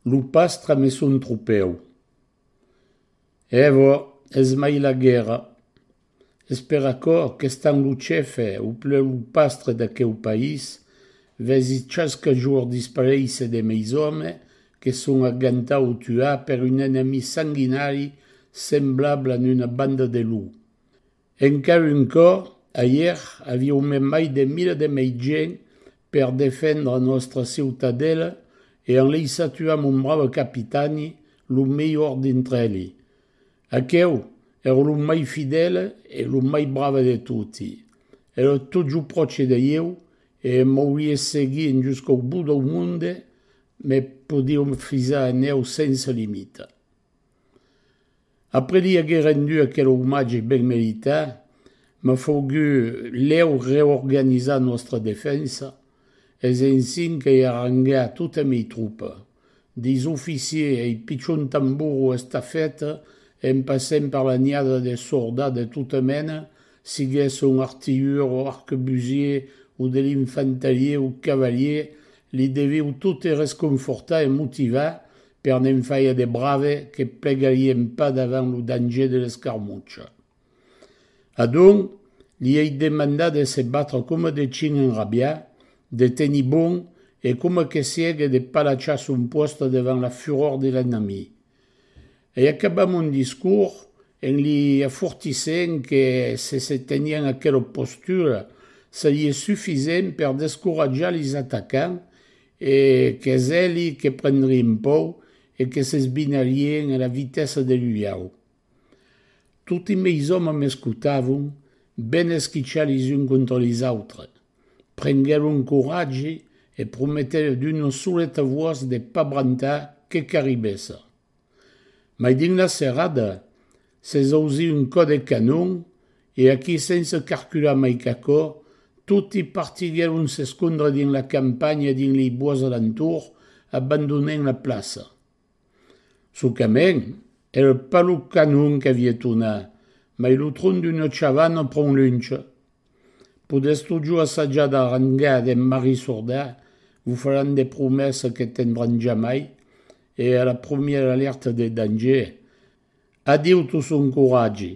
Lo pastre me son tropèu. Evo, es mai la guèrra. Es per aquò qu'estant lo chefe o pleu lo pastre d'aqueu país, vesi chasque jorn disparéisser de meis òmes que son a gantar o tuar per un enemi sanguinari semblable a n-una banda de lou. Encara un còp, ahièr aviumem mai de mila de mei gent per defendre nòstra ciutadela e en lei satuam un brave capitani, lo melhor dintre eli. Aqueu èra lo mai fidèle e lo mai brave de toti. Èra totjor pròche de ieu e m'aurie seguit juscau bot dau monde, me podiam fisar en eu sense limita. Après li aguer rendu aquel omatge ben meritat, m'a fogut lèu reorganizar nòstra defensa, es ensin qu'ei arrangat tota mei tropa, deis oficiers ei pichon tambor o estafèt, en passent per la niada de sordats de tota mena, siguèsson artilhur o arquebusier o de l'infantalier o cavalier, li deviu tot e resconfortar e motivar Per ne'n faire de brave que plegarien pas davant lo danger de l'escarmucha. Adonc, li ei demandat de se batre coma de chin enrabiat, de tenir bon e coma que siegue de palachar son pòsta devant la furor de l'ennemi. Ei acabat mon discors en li afortissent que se se teniá en aquela postura, serie sufisent per descoratjar lis atacants E qu'es eli que prendrien pòu e que s'esbinarien a la vitessa de l'uliau. Toti meis òmes m'escotavon, ben esquichar les uns contra les autres. Prenguèron coratge e prometèron d'una soleta voix de pas brantar que qu'arribèssa. Mai dins la serrada, s'es ausit un còp de canon e aquí sense carcular mai qu'aquò, toti partiguèron s'escondre dins la campanha e dins lei bois alentour, abandonent la plaça. Socament, èra pas lo canon qu'aviá tonat, mai lo tron d'una chavana pron lunch, Podètz totjorn assajar d'arranjar d'en marissordar, vos faràn de promèssa que tendràn jamai e a la promièra alèrta de danger, adieu tot son coratge,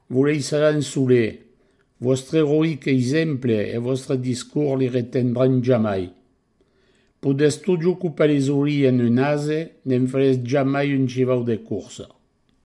vos laissaràn solet, vòstre eroïc exemple e vòstre discors li retendràn jamai. Podètz totjorn copar les orilhs en un ase, ne'n farètz jamai un chivau de corsa.